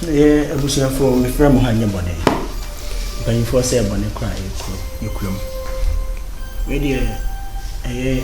yɛ abusuafoɔ mefrɛ mo ha nyɛ bɔne mpanyimfoɔ sɛ bɔne kora yɛkuro yɛkura mu wei deɛ ɛyɛ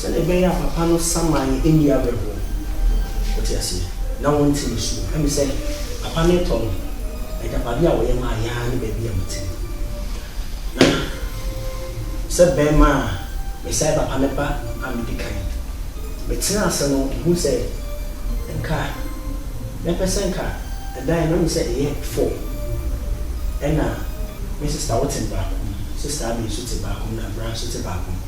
Sɛdeɛ ɛbɛyɛ a papa no saman nni awerɛhoɔ. Wote aseɛ? Na wɔnte ne su. Ɛne sɛ, papa no retɔ no agyapadeɛ a ɔyɛ maa yɛn ara ne baabi a mete no. Na sɛ barima a mesan papa no ba a medi kan. Metenaa ase no, mehuu sɛ nka mɛpɛ sɛ nka ɛdan no, ɛne sɛ ɛyɛ four, ɛna me sista wote no baako mu, sista Abby nso te baako mu, na Brian nso te baako mu.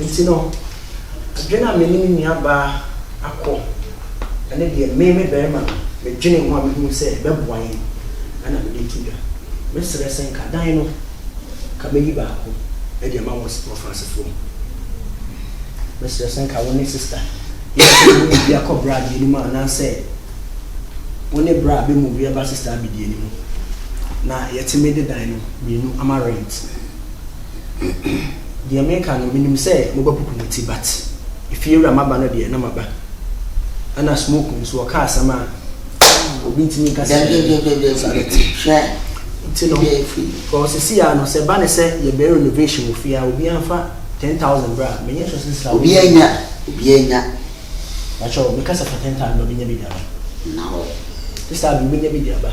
Enti no, adwene a me ne me nuabaa akɔ ne deɛ me, me barima no, medwenee ho a mehunuu sɛ ɛbɛboa yɛn na mede reto dwa. Mɛsrɛ sɛ nka dan no, nka mɛyi baako de ama wɔ Fransefoɔ mu. Mɛsrɛ sɛ nka wo ne sista Yɛnka mo mmienu akɔ bra mmienu mu anaasɛ wo ne bra bɛ move ba sista Abidie no mu na yɛtumi de dan no mmienu ama rent. deɛ meka no menim sɛ mobɛpopo mo ti but efiewura maba no deɛ na maba ɛna smoke nso ɔka asɛm a obi ntumi nka sɛ nti no kɔ sisi a no sɛ ba ne sɛ yɛbɛn renovation wɔ fie a obi anfa ten thousand bra menyɛ sɔ sisi a obi anya obi anya bàtchɛ meka sɛ fa ten thousand ba bɛnya bi de aba na hɔ sisi a bi bɛnya bi de aba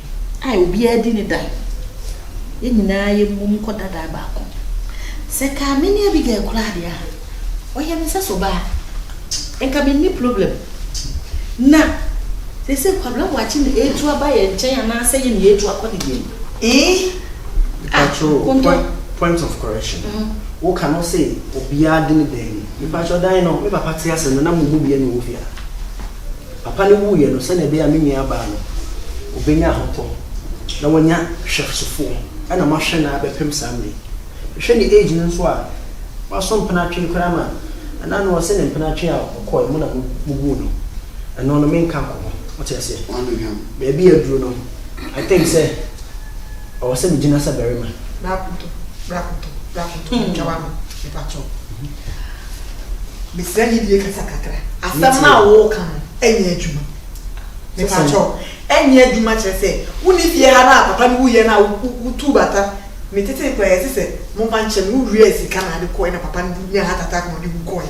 a obiara di ne da, yɛn nyinaa yɛmmom nkɔ dada baako. Sɛ ka me ne Abigail koraa deɛ a, ɔyɛ me sɛ sobaa. Nka menni problem. Na seesei Kwabena Boakye na ɛretu aba yɛn nkyɛn anaasɛ yɛn na yɛretu akɔ ne deɛn? Eeh! Ah, Konto. Mepakyɛw, point of correction. Woka no se obiara di ne da ni. Mepakyɛw, dan no, me papa te ase no na mo mu biara na ɔwɔ fie ha. Papa no wuiɛ no, sɛdeɛ ɛbɛyɛ a me nuabaa no ɔbɛnya ahotɔ na wanya hwɛsofoɔ na mahwɛ no ara bɛpem saa mmerɛ yi. Mehwɛ ne age no nso a, waso mpenatwe koraa ma ɛna no ɔse ne mpenatwe a ɔkɔɔɛ mo na mobuu no, ɛno no menka nkɔ ho, mote aseɛ? Baabi a aduru no, I think sɛ. Ɔwɔ sɛ megyina sɛ barima. Bra koto, bra koto, bra koto, twa w'ano, mepa kyɛw. Mesrɛ gyidie kasa kakra. Asɛm no a woreka no nyɛ adwuma. Mepa kyɛw, ɛnyɛ adwuma kyerɛ sɛ wonni fie ha no a papa no wuiɛ no a wotuu bata. Metetee koraa yɛse sɛ momfa nkyɛ me, wowiaɛ sika na ade kɔɔɛ na papa no nyaa heart attack na ɔde wu kɔɔɛ.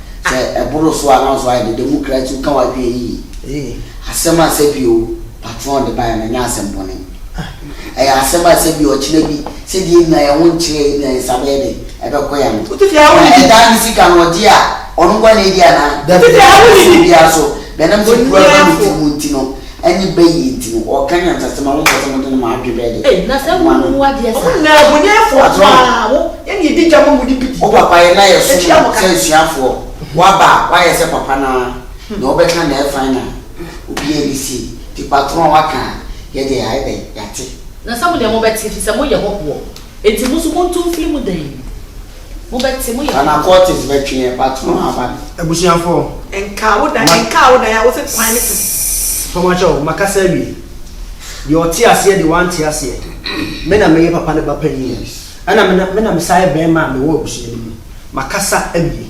Sɛ ɛboro so a, na nso ayɛ dede. Mu kra tiw ka w'adwene yiye. Asɛm a sɛbi o, patron de bae no, ɛnyɛ asɛm bɔne. Ɛyɛ asɛm a sɛbi ɔkyena bi, sɛdeɛ yɛn nyinaa yɛn ho nkyerɛ yɛn nyinaa, yɛn nsa bɛyɛ dɛn? Ɛbɛkɔ yɛn ano. Na ɛdaa ne sika no ɔgye a, ɔno nko ara na edi anaa? Ɛnso obiara nso, bɛnam sɛ kuru aba ne tirim nti no, Ɛne bɛ yie nti no ɔɔka nyansasɛm a wompɛ sɛ mode no mo adwene bɛyɛ dɛ. Ei na sɛ wo hu adeɛ saa. Ɔmo nyinaa boniafoɔ paa wo ɛne ɛdi dwa ma mode bidi. Wo papa yɛ na yɛ som no sɛ asuafoɔ waba a wayɛ sɛ papa no ara nea ɔbɛka na ɛyɛ fine a obiara ɛni sie nti patron a waka a yɛ deɛ yayɛ dɛn yate. Na sɛ mo deɛ mo bɛte efisɛ mo yɛ hɔhoɔ nti mo nso monto mfiri mu dɛn. Mobɛte, moyɛ wɔn. Anacortes bɛtwe yɛn, Patron Abane. Abusuafoɔ. Nkaa wo dan, nkaa wo dan a wose kwan ne te. Mpamoakyɛw, makasa awie. Deɛ ɔte aseɛ deɛ wante aseɛ. Me na meyɛ papa no ba panin. Ɛna me na, me na mesan yɛ barima a mewɔ abusua no mu. Makasa awie.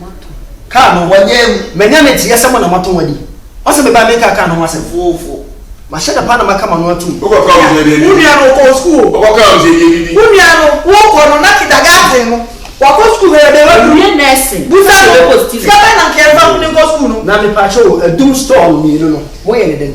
Wɔn ato. Kaa no wɔn yɛn mu. Manya ne teɛ sɛ mo na mo ato wɔn adi. Ɔse me ba me nka kaa no ho asɛm. Foofo. Mahyɛ da paa na maka m'ano atum. Wokɔ kaa ɔmo sɛ yɛde adidi. Wo nua no ɔkɔɔ sukuu o. Ɔkɔ kaa ɔmo sɛ yɛde adidi. Wo nua no wokɔ no na kidagaten no wakɔ sukuu hwɛ yɛde waduru. Wawie nursing. Busa no sika bɛn na nka yɛmfa ne nkɔ sukuu no. Na mepaakyɛw o adum store mmienu no mo yɛ ne dɛn.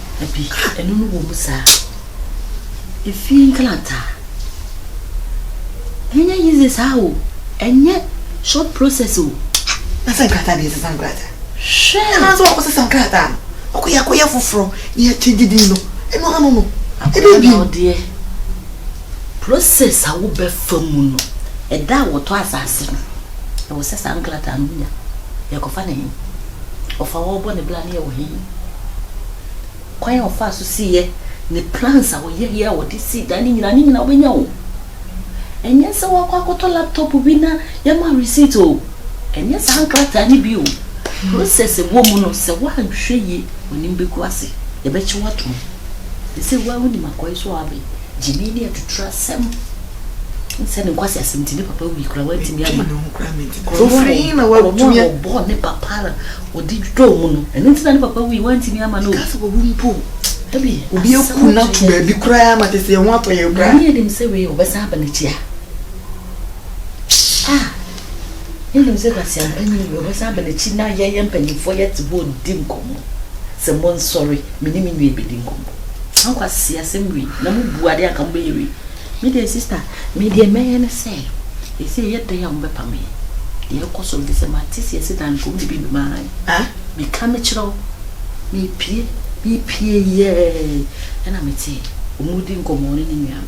Dabi, ɛno no wɔ mu saa. Efie nkrataa, ɛnyɛ easy saa o, ɛnyɛ short process o. Na sɛ nkrataa deɛ ɛsesa nkrataa. Hwɛ! Anaa sɛ wɔakɔsesa nkrataa no, ɔkɔ yɛakɔyɛ foforɔ na yɛakyɛngye din no, ɛno ano no, ɛbɛyɛ bio. Akwadaa deɛ, process a wobɛfa mu no, ɛda a wɔtɔ asase no, ɛwɔ sɛ saa nkrataa no wonya. Yɛkɔfa no he? ɔfa hɔ bɔ ne bra no yɛ wɔ he? Kwan a ɔfaa so siiɛ, ne plans a ɔyɛeɛ a ɔde sii dan no nyinaa, ne nyinaa wobɛnya o. Ɛnyɛ sɛ woakɔ akɔtɔ laptop bi na yɛama wo receipt o. Ɛnyɛ saa nkrataa no bi o. Process a ɛwɔ mu no, sɛ woanhwɛ yie, w'anim bɛgu ase. Yɛbɛkye wo atom. Seesei wo ara wonim akɔe so a woabɛn. Gyimii ne atuturu asɛm sɛ ne nkwaseasɛm nti ne papa wui koraa wantumi amma ɔno a ɔbɔɔ ne papa a ɔde dwodwoo mu no ɛno nti na ne papa wui wantumi amma no ɛka sɛ wawu mpo dabi obi aku no ato baabi koraa ma te sɛ yɛn ho atɔ yɛn koraa na yɛnim sɛ wei ɔbɛsan aba n'akyi a ah Wonim sɛ kwaseampa nyi wɔ hɔ, ɔbɛsan aba n'akyi na yɛn, yɛn mpanimfoɔ yɛte hɔ redi nkɔmmɔ sɛ monsɔre, me ne me nua rebɛdi nkɔmmɔ. Saa nkwaseasɛm wei na mobu adeɛ a anka mobɛyɛ wei. Me deɛ sister, me deɛ mɛyɛ ne sɛ, ɛsei ɛyɛ dɛn a mobɛpa me? Deɛ ɛrekɔ so no ɛfiri sɛ mate seɛ sɛ Danko wode biribi bɛma han. Ah, meka mekyerɛ wo, mepue, mepue yɛɛ na metee wɔredi nkɔmmɔ ɔne ne nua no.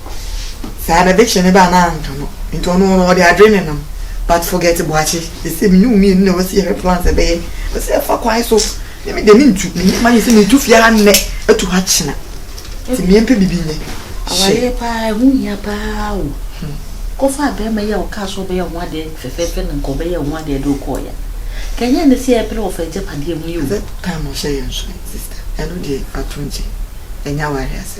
saa na de kye ne ba anaa antɔ no nti ɔno no ɔde adwene ne nam but forget boakye sese me ne wo mienu na wasi yɛhwɛ plans ɛbɛyɛ ɔsi ɛfa kwan so ne me de me ntu me nneɛma yɛ sɛ me tu fie ha nnɛ atu ha kyena ti me mpɛ bibi nyɛ awareɛ paa ɛho hia paa o hmm. kɔfa abɛɛma yi a ɔkaa so ɔbɛyɛ ho adeɛ fɛfɛɛfɛ na nka ɔbɛyɛ ho adeɛ de ɔkɔɔ ya kɛnyɛ ne sɛ ɛpere ɔfa agyapadeɛ ho yi o time ɔhyɛ yɛn so sister ɛno deɛ ato nkyɛn ɛnyɛ awareɛ asɛ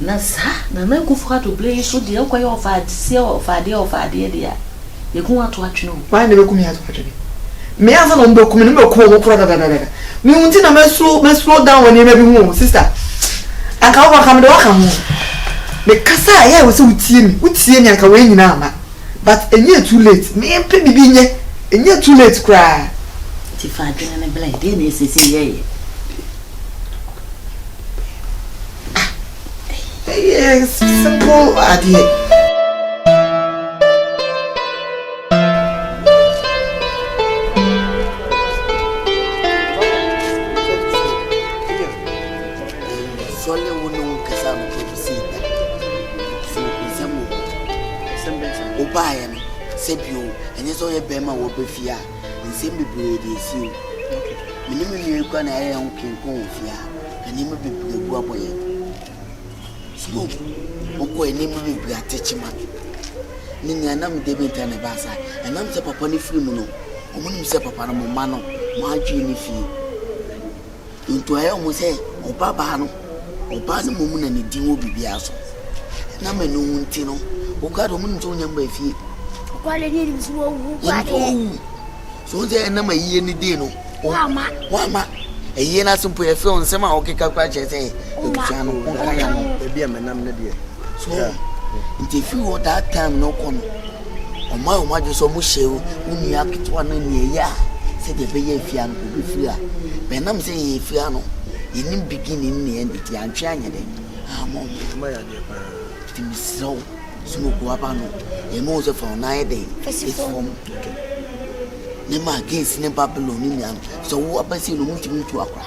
Na saa Nana Akuffo Addo bere yi so deɛ wokɔyɛ ɔfaadeɛ ɔfaadeɛ ɔfaadeɛ deɛ a, yɛku wo ato atwene o. Why na bɛku me ato atwene? Me ansa na wɔbɛku me no mɛku wɔn koraa dadadadada. Me wo nti na ma slow ma slow down wɔ nneɛma bi ho o sister. Anka wokɔ anka mede wo aka ho. Me kasa a ɛyɛ a ɛwɔ sɛ wotie me, wotie me a anka wei nyinaa mma. But ɛnyɛɛ too late, me mpɛ biribi nyɛ, ɛnyɛɛ too late koraa. Nti fa adwene no brɛ, deɛ na ɛsɛ sɛ yɛyɛ? Ɛyɛ simple adeɛ. Sɔle wo ne wo nkasa mo kɔ bi sei da. So nsɛm wɔ hɔ. Nsɛm bɛn saa? Wobaeɛ no sɛ bio ɛnyɛ sɛ woyɛ bɛrima a wɔba fie a. Nsɛm bebree de asi o. Me ne me nua yi kura na yɛyɛ yɛn ho twen kɔ wɔn fie a, na nneɛma bebree abu abɔ yɛn. Slow wokɔe, nneɛma bebree ate kyema. Ne nea nam dɛ bi nti na ɛbaa saa. Ɛnam sɛ papa no firi mu no, wɔnim sɛ papa no, mo mma no, mo adwene ne fie. Enti ɔyɛ wɔn sɛ ɔbabaa no, ɔbaa no mmom na ne din wɔ biribiara so. Ɛnam ɛno ho nti no, woka sɛ wɔnim sɛ wonya mma fie. Nokware ni nim sɛ wɔwu guade. So sɛ ɛnam ayie no din no, wɔama. Wɔama. Ayie no ase mpo yɛfrɛ wɔn nsɛm a wɔkeka kora kyerɛ sɛ abusua no, wɔnka yɛ no. Ebi a menam ne deɛ. So yeah. Nti efi hɔ that time no kɔ no ɔmo ayɛ ɔmo adwene sɛ ɔmo hyɛ wo nua ketewa no nea ɛyɛ a sɛdeɛ ɛbɛyɛ efia no kò befiri a bɛnam sɛ yɛn efia no yɛnim beginning ne end ti antwe anyɛ dɛ ama ɔmo ɛma yɛ adeɛ paa ti mi srɛ wo smoke waba no yɛn mo sɛ fa ɔna ayɛ dɛ esi fam ne ma against ne babylon ne nea sɛ wo abɛsi no ɔmo ntumi ntu akora.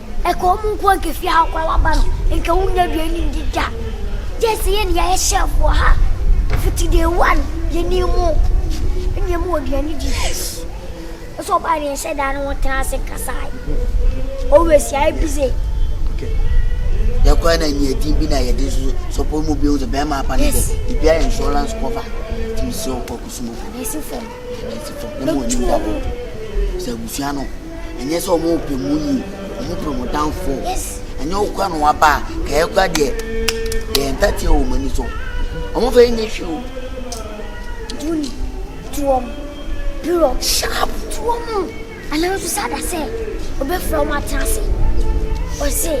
Ɛka wɔn nko a nka fie ha koraa waba no nka wonnya aduane ndi da. Gye sɛ yɛn yɛyɛ chef wɔ ha. Fiti day one yɛnim mo. Ɛne yɛn mu wɔ aduane di. Ɛsɛ ɔbaa ne yɛhyɛ daa ne ho tena ase kasae. Always yɛayɛ busy. Okay. Yɛkɔɛ na nyɛ din bi na yɛde so sɔpɔ mu bi ho sɛ bɛrima apa ne dɛ. Ebi ayɛ insurance cover. Tumi sɛ ɔkɔ kusumo. Anasi fam. Anasi fam. Ne mo anim dabɔ. Sɛ abusua no. Ɛnyɛ sɛ ɔmo pɛ mo yie, ɔmo pɛ mo downfall. Ɛnyɛ wo kora na waba a, kɛɛ kora deɛ yɛyɛ ntateɛ wɔ ɔmo ani so. Ɔmo fɛ nyɛ hwee o. Duni, tu ɔmo, pirɔ, sharp, tu ɔmo. Anaa nso sɛ ada sɛ ɔbɛfrɛ ɔmo atena ase. Ɔse,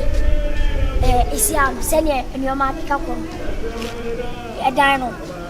ɛɛ, esi ano sɛdeɛ nneɛma akeka kɔ no, ɛdan no,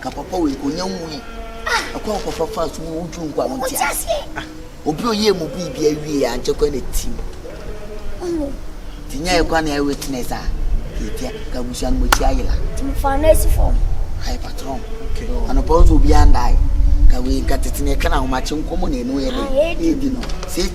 ka papa wei onya nwui ɛkwan wo papa fa so wo dwu nkwa wo nte aseɛ obi oyie mu bi bi awie ankyɛ kwan na tim tinya yɛ kwan na yɛ witness a yɛtia ka abusua no mɔkyi ayela timfa no asi fam ayɛ patron anɔpa wo nso obi andae ka wei nka tete ne ɛka na ahomakye nkɔmmɔ na ɛno yɛ de ɛdi no